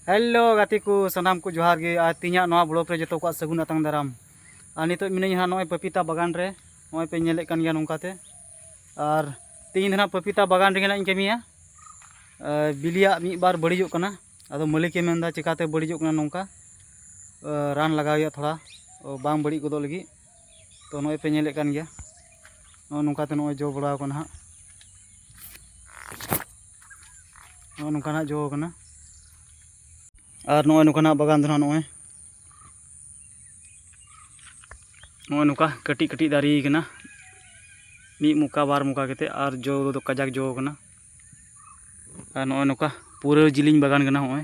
hello ᱜᱟᱛᱮ ᱠᱚ ᱥᱟᱱᱟᱢ ᱠᱚ ᱡᱚᱦᱟᱨ ᱜᱮ ᱟᱨ ᱛᱤᱧᱟᱜ ᱱᱚᱣᱟ ᱵᱞᱚᱜ ᱨᱮ ᱡᱚᱛᱚ ᱠᱚᱣᱟᱜ ᱥᱟᱹᱜᱩᱱ ᱟᱛᱟᱝ ᱫᱟᱨᱟᱢ ᱟᱨ ᱱᱤᱛᱚᱜ ᱢᱤᱱᱟᱹᱧ ᱦᱟᱸᱜ ᱱᱚᱜᱼᱚᱭ ᱯᱟᱯᱤᱛᱟ ᱵᱟᱜᱟᱱ ᱨᱮ ᱱᱚᱜᱼᱚᱭ ᱯᱮ ᱧᱮᱞᱮᱫ ᱠᱟᱱ ᱜᱮᱭᱟ ᱱᱚᱝᱠᱟᱛᱮ ᱟᱨ ᱛᱤᱦᱤᱧ ᱫᱚ ᱦᱟᱸᱜ ᱯᱟᱯᱤᱛᱟ ᱵᱟᱜᱟᱱ ᱨᱮᱜᱮ ᱦᱟᱸᱜ ᱤᱧ ᱠᱟᱹᱢᱤᱭᱟ ᱵᱤᱞᱤᱭᱟᱜ ᱢᱤᱫ ᱵᱟᱨ ᱵᱟᱹᱲᱤᱡᱚᱜ ᱠᱟᱱᱟ ᱟᱫᱚ ᱢᱟᱹᱞᱤᱠᱮ ᱢᱮᱱᱫᱟ ᱪᱮᱠᱟᱛᱮ ᱵᱟᱹᱲᱤᱡᱚᱜ ᱠᱟᱱᱟ ᱱᱚᱝᱠᱟ ᱨᱟᱱ ᱞᱟᱜᱟᱣ ᱦᱩᱭᱩᱜᱼᱟ ᱛᱷᱚᱲᱟ ᱵᱟᱝ ᱵᱟᱹᱲᱤᱡ ᱜᱚᱫᱚᱜ ᱞᱟᱹᱜᱤᱫ ᱛᱚ ᱱᱚᱜᱼᱚᱭ ᱯᱮ ᱧᱮᱞᱮᱫ ᱠᱟᱱ ᱜᱮᱭᱟ ᱱᱚᱜᱼᱚ ᱱᱚᱝᱠᱟᱛᱮ ᱱᱚᱜᱼᱚᱭ ᱡᱚ ᱵᱟᱲᱟᱣ ᱠᱟᱱᱟ ᱦᱟᱸᱜ ᱱᱚᱜᱼᱚ ᱱᱚᱝᱠᱟᱱᱟᱜ ᱡᱚ ᱠᱟᱱᱟ ᱟᱨ ᱱᱚᱜᱼᱚᱭ ᱱᱚᱝᱠᱟᱱᱟᱜ ᱵᱟᱜᱟᱱ ᱫᱚ ᱦᱟᱸᱜ ᱱᱚᱜᱼᱚᱭ ᱱᱚᱜᱼᱚᱭ ᱱᱚᱝᱠᱟ ᱠᱟᱹᱴᱤᱡ ᱠᱟᱹᱴᱤᱡ ᱫᱟᱨᱮ ᱠᱟᱱᱟ ᱢᱤᱫ ᱢᱚᱠᱟ ᱵᱟᱨ ᱢᱚᱠᱟ ᱠᱟᱛᱮᱫ ᱟᱨ ᱡᱚ ᱫᱚ ᱠᱟᱡᱟᱠ ᱡᱚ ᱠᱟᱱᱟ ᱟᱨ ᱱᱚᱜᱼᱚᱭ ᱱᱚᱝᱠᱟ ᱯᱩᱨᱟᱹ ᱡᱤᱞᱤᱧ ᱵᱟᱜᱟᱱ ᱠᱟᱱᱟ ᱱᱚᱜᱼᱚᱭ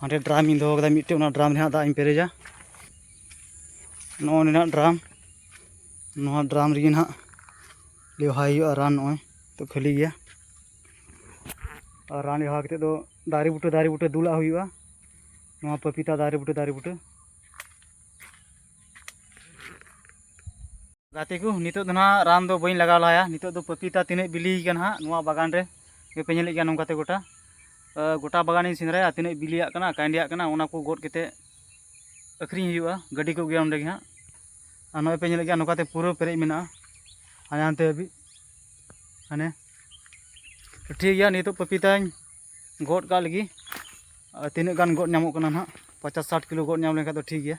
ᱦᱟᱸᱰᱮ ᱰᱨᱟᱢ ᱤᱧ ᱫᱚᱦᱚ ᱠᱟᱫᱟ ᱢᱤᱫᱴᱮᱡ ᱚᱱᱟ ᱰᱨᱟᱢ ᱨᱮᱦᱟᱸᱜ ᱫᱟᱜ ᱤᱧ ᱯᱮᱨᱮᱡᱟ ᱱᱚᱜᱼᱚᱭ ᱱᱤᱱᱟᱹᱜ ᱰᱨᱟᱢ ᱱᱚᱣᱟ ᱰᱨᱟᱢ ᱨᱮᱜᱮ ᱱᱟᱦᱟᱜ ᱞᱮᱣᱦᱟᱭ ᱦᱩᱭᱩᱜᱼᱟ ᱨᱟᱱ ᱱᱚᱜᱼᱚᱭ ᱛᱚ ᱠᱷᱟᱹᱞᱤ ᱜᱮᱭᱟ ᱟᱨ ᱨᱟᱱ ᱞᱮᱣᱦᱟ ᱠᱟᱛᱮᱫ ᱫᱚ ᱫᱟᱨᱮ ᱵᱩᱴᱟᱹ ᱫᱟᱨᱮ ᱵᱩᱴᱟᱹ ᱫᱩᱞᱟᱜ ᱦᱩᱭᱩᱜᱼᱟ ᱱᱚᱣᱟ ᱯᱟᱹᱯᱤᱛᱟ ᱫᱟᱨᱮ ᱵᱩᱴᱟᱹ ᱫᱟᱨᱮ ᱵᱩᱴᱟᱹ ᱜᱟᱛᱮ ᱠᱚ ᱱᱤᱛᱚᱜ ᱫᱚ ᱱᱟᱦᱟᱜ ᱨᱟᱱ ᱫᱚ ᱵᱟᱹᱧ ᱞᱟᱜᱟᱣ ᱞᱟᱦᱟᱭᱟ ᱱᱤᱛᱚᱜ ᱫᱚ ᱯᱟᱯᱤᱛᱟ ᱛᱤᱱᱟᱹᱜ ᱵᱤᱞᱤ ᱠᱟᱱᱟ ᱦᱟᱸᱜ ᱱᱚᱣᱟ ᱵᱟᱜᱟᱱ ᱨᱮ ᱯᱮ ᱧᱮᱞᱮᱫ ᱜᱮᱭᱟ ᱱᱚᱝᱠᱟᱛᱮ ᱜᱚᱴᱟ ᱜᱚᱴᱟ ᱵᱟᱜᱟᱱᱤᱧ ᱥᱮᱸᱫᱽᱨᱟᱭᱟ ᱛᱤᱱᱟᱹᱜ ᱵᱤᱞᱤᱭᱟᱜ ᱠᱟᱱᱟ ᱠᱟᱭᱰᱤᱭᱟᱜ ᱠᱟᱱᱟ ᱚᱱᱟ ᱠᱚ ᱜᱚᱫ ᱠᱟᱛᱮ ᱟᱹᱠᱷᱨᱤᱧ ᱦᱩᱭᱩᱜᱼᱟ ᱜᱟᱹᱰᱤ ᱠᱚ ᱜᱮᱭᱟ ᱚᱸᱰᱮ ᱜᱮ ᱦᱟᱸᱜ ᱟᱨ ᱱᱚᱜᱼᱚᱭ ᱯᱮ ᱧᱮᱞᱮᱫ ᱜᱮᱭᱟ ᱱᱚᱝᱠᱟᱛᱮ ᱯᱩᱨᱟᱹ ᱯᱮᱨᱮᱡ ᱢᱮᱱᱟᱜᱼᱟ ᱦᱟᱱᱮ ᱦᱟᱱᱛᱮ ᱦᱟᱹᱵᱤᱡ ᱦᱟᱱᱮ ᱴᱷᱤᱠ ᱜᱮᱭᱟ ᱱᱤᱛᱚᱜ ᱯᱟᱯᱤᱛᱟᱧ ᱜᱚᱫ ᱠᱟᱜ ᱞᱟᱹᱜᱤᱫ ᱛᱤᱱᱟᱹᱜ ᱜᱟᱱ ᱜᱚᱫ ᱧᱟᱢᱚᱜ ᱠᱟᱱᱟ ᱱᱟᱦᱟᱜ ᱯᱚᱪᱟᱥ ᱥᱟᱴ ᱠᱤᱞᱳ ᱜᱚᱫ ᱧᱟᱢ ᱞᱮᱱᱠᱷᱟᱱ ᱫᱚ ᱴᱷᱤᱠ ᱜᱮᱭᱟ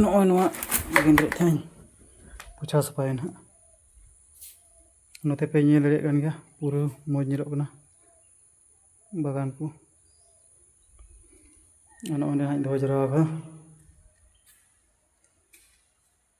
ᱱᱚᱜᱼᱚᱭ ᱱᱚᱣᱟ ᱜᱮᱸᱫᱽᱨᱮᱡ ᱛᱟᱹᱞᱤᱧ ᱯᱳᱪᱷᱟᱣ ᱥᱟᱯᱷᱟᱭᱟ ᱱᱟᱦᱟᱜ ᱱᱚᱛᱮ ᱯᱮ ᱧᱮᱞ ᱫᱟᱲᱮᱭᱟᱜ ᱠᱟᱱ ᱜᱮᱭᱟ ᱯᱩᱨᱟᱹ ᱢᱚᱡᱽ ᱧᱮᱞᱚᱜ ᱠᱟᱱᱟ ᱵᱟᱜᱟᱱ ᱠᱚ ᱱᱚᱜᱼᱚᱭ ᱱᱟᱦᱟᱜ ᱤᱧ ᱫᱚᱦᱚ ᱡᱟᱣᱨᱟ ᱟᱠᱟᱫᱟ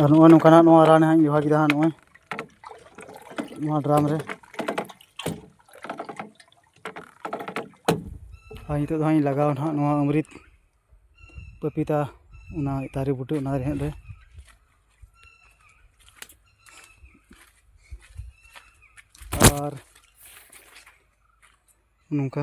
ᱟᱨ ᱱᱚᱜᱼᱚᱭ ᱱᱚᱝᱠᱟᱱᱟᱜ ᱱᱚᱣᱟ ᱨᱟᱱ ᱦᱟᱸᱜ ᱤᱧ ᱵᱮᱵᱚᱦᱟᱨ ᱠᱮᱫᱟ ᱦᱟᱸᱜ ᱱᱚᱜᱼᱚᱭ ᱱᱚᱣᱟ ᱰᱨᱟᱢ ᱨᱮ ᱟᱨ ᱱᱤᱛᱚᱜ ᱫᱚ ᱦᱟᱸᱜ ᱤᱧ ᱞᱟᱜᱟᱣᱟ ᱦᱟᱸᱜ ᱱᱚᱣᱟ ᱚᱢᱨᱤᱛ ᱯᱟᱯᱤᱛᱟ ᱚᱱᱟ ᱫᱟᱨᱮ ᱵᱩᱴᱟᱹ ᱚᱱᱟ ᱨᱮᱦᱮᱫ ᱨᱮ ᱟᱨ ᱱᱚᱝᱠᱟ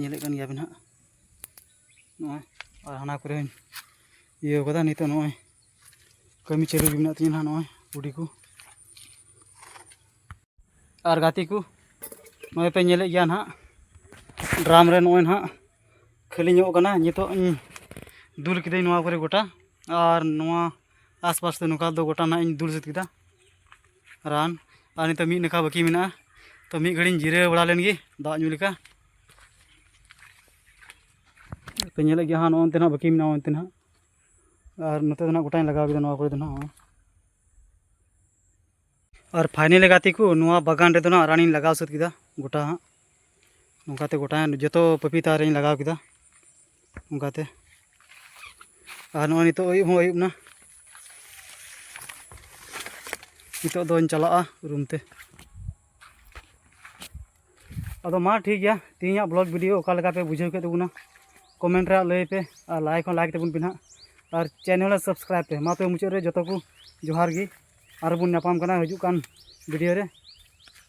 ᱧᱮᱞᱮᱫ ᱠᱟᱱ ᱜᱮᱭᱟᱵᱮᱱ ᱦᱟᱸᱜ ᱱᱚᱜᱼᱚᱭ ᱟᱨ ᱦᱟᱱᱟ ᱠᱚᱨᱮ ᱦᱚᱧ ᱤᱭᱟᱹ ᱠᱟᱫᱟ ᱱᱤᱛᱚᱜ ᱱᱚᱜᱼᱚᱭ ᱠᱟᱹᱢᱤ ᱪᱟᱹᱞᱩ ᱜᱮ ᱢᱮᱱᱟᱜ ᱛᱤᱧᱟᱹ ᱦᱟᱸᱜ ᱱᱚᱜᱼᱚᱭ ᱠᱩᱰᱤ ᱠᱚ ᱟᱨ ᱜᱟᱛᱮ ᱠᱚ ᱱᱚᱜᱼᱚᱭ ᱯᱮ ᱧᱮᱞᱮᱫ ᱜᱮᱭᱟ ᱱᱟᱦᱟᱜ ᱰᱨᱟᱢ ᱨᱮ ᱱᱚᱜᱼᱚᱭ ᱱᱟᱦᱟᱜ ᱠᱷᱟᱹᱞᱤ ᱧᱚᱜ ᱠᱟᱱᱟ ᱱᱤᱛᱚᱜ ᱤᱧ ᱫᱩᱞ ᱠᱤᱫᱟᱹᱧ ᱱᱚᱣᱟ ᱠᱚᱨᱮ ᱜᱚᱴᱟ ᱟᱨ ᱱᱚᱣᱟ ᱟᱥᱯᱟᱥ ᱫᱚ ᱱᱚᱝᱠᱟ ᱫᱚ ᱜᱚᱴᱟ ᱱᱟᱦᱟᱜ ᱤᱧ ᱫᱩᱞ ᱥᱟᱹᱛ ᱠᱮᱫᱟ ᱨᱟᱱ ᱟᱨ ᱱᱤᱛᱚᱜ ᱢᱤᱫ ᱱᱟᱠᱷᱟ ᱵᱟᱹᱠᱤ ᱢᱮᱱᱟᱜᱼᱟ ᱛᱚ ᱢᱤᱫ ᱜᱷᱟᱹᱲᱤᱧ ᱡᱤᱨᱟᱹᱣ ᱵᱟᱲᱟ ᱞᱮᱱ ᱜᱮ ᱫᱟᱜ ᱧᱩ ᱞᱮᱠᱟ ᱛᱚ ᱧᱮᱞᱮᱫ ᱜᱮᱭᱟ ᱦᱟᱸᱜ ᱱᱚᱜᱼᱚᱱᱛᱮ ᱱᱟᱜ ᱵᱟᱹᱠᱤ ᱢᱮᱱᱟᱜᱼᱟ ᱚᱱᱛᱮ ᱱᱟᱜ ᱟᱨ ᱱᱚᱛᱮ ᱫᱚ ᱱᱟᱜ ᱜᱚᱴᱟᱧ ᱞᱟᱜᱟᱣ ᱠᱮᱫᱟ ᱱᱚᱣᱟ ᱠᱚᱨᱮ ᱫᱚ ᱱᱟᱜ ᱟᱨ ᱯᱷᱟᱭᱱᱮᱞ ᱜᱟᱛᱮ ᱠᱚ ᱱᱚᱣᱟ ᱵᱟᱜᱟᱱ ᱨᱮᱫᱚ ᱱᱟᱜ ᱨᱟᱱᱤᱧ ᱞᱟᱜᱟᱣ ᱥᱟᱹᱛ ᱠᱮᱫᱟ ᱜᱚᱴᱟ ᱦᱟᱸᱜ ᱱᱚᱝᱠᱟᱛᱮ ᱜᱚᱴᱟ ᱡᱚᱛᱚ ᱯᱟᱯᱤᱛᱟ ᱨᱤᱧ ᱞᱟᱜᱟᱣ ᱠᱮᱫᱟ ᱚᱱᱠᱟᱛᱮ ᱟᱨ ᱱᱚᱜᱼᱚᱭ ᱱᱤᱛᱚᱜ ᱟᱹᱭᱩᱵ ᱦᱚᱸ ᱟᱹᱭᱩᱵ ᱮᱱᱟ ᱱᱤᱛᱚᱜ ᱫᱚᱧ ᱪᱟᱞᱟᱜᱼᱟ ᱨᱩᱢ ᱛᱮ ᱟᱫᱚ ᱢᱟ ᱴᱷᱤᱠ ᱜᱮᱭᱟ ᱛᱮᱦᱮᱧᱟᱜ ᱵᱞᱚᱜ ᱵᱷᱤᱰᱤᱭᱳ ᱚᱠᱟ ᱞᱮᱠᱟ ᱯᱮ ᱵᱩᱡᱷᱟᱹᱣ ᱠᱮᱫ ᱛᱟᱵᱚᱱᱟ ᱠᱚᱢᱮᱱᱴ ᱨᱮ ᱞᱟᱹᱭ ᱯᱮ ᱟᱨ ᱞᱟᱭᱤᱠ ᱦᱚᱸ ᱞᱟᱭᱤᱠ ᱛᱟᱵᱚᱱ ᱯᱮ ᱱᱟᱦᱟᱜ ᱟᱨ ᱪᱮᱱᱮᱞ ᱨᱮ ᱥᱟᱵᱥᱠᱨᱟᱭᱤᱵ ᱯᱮ ᱢᱟ ᱛᱚᱵᱮ ᱢᱩᱪᱟᱹᱫ ᱨᱮ ᱡᱚᱛᱚ ᱠᱚ ᱡᱚᱦᱟᱨ ᱜᱮ ᱟᱨᱵᱚᱱ ᱧᱟᱯᱟᱢ ᱠᱟᱱᱟ ᱦᱤᱡᱩᱜ ᱠᱟᱱ ᱵᱷᱤᱰᱤᱭᱳ ᱨᱮ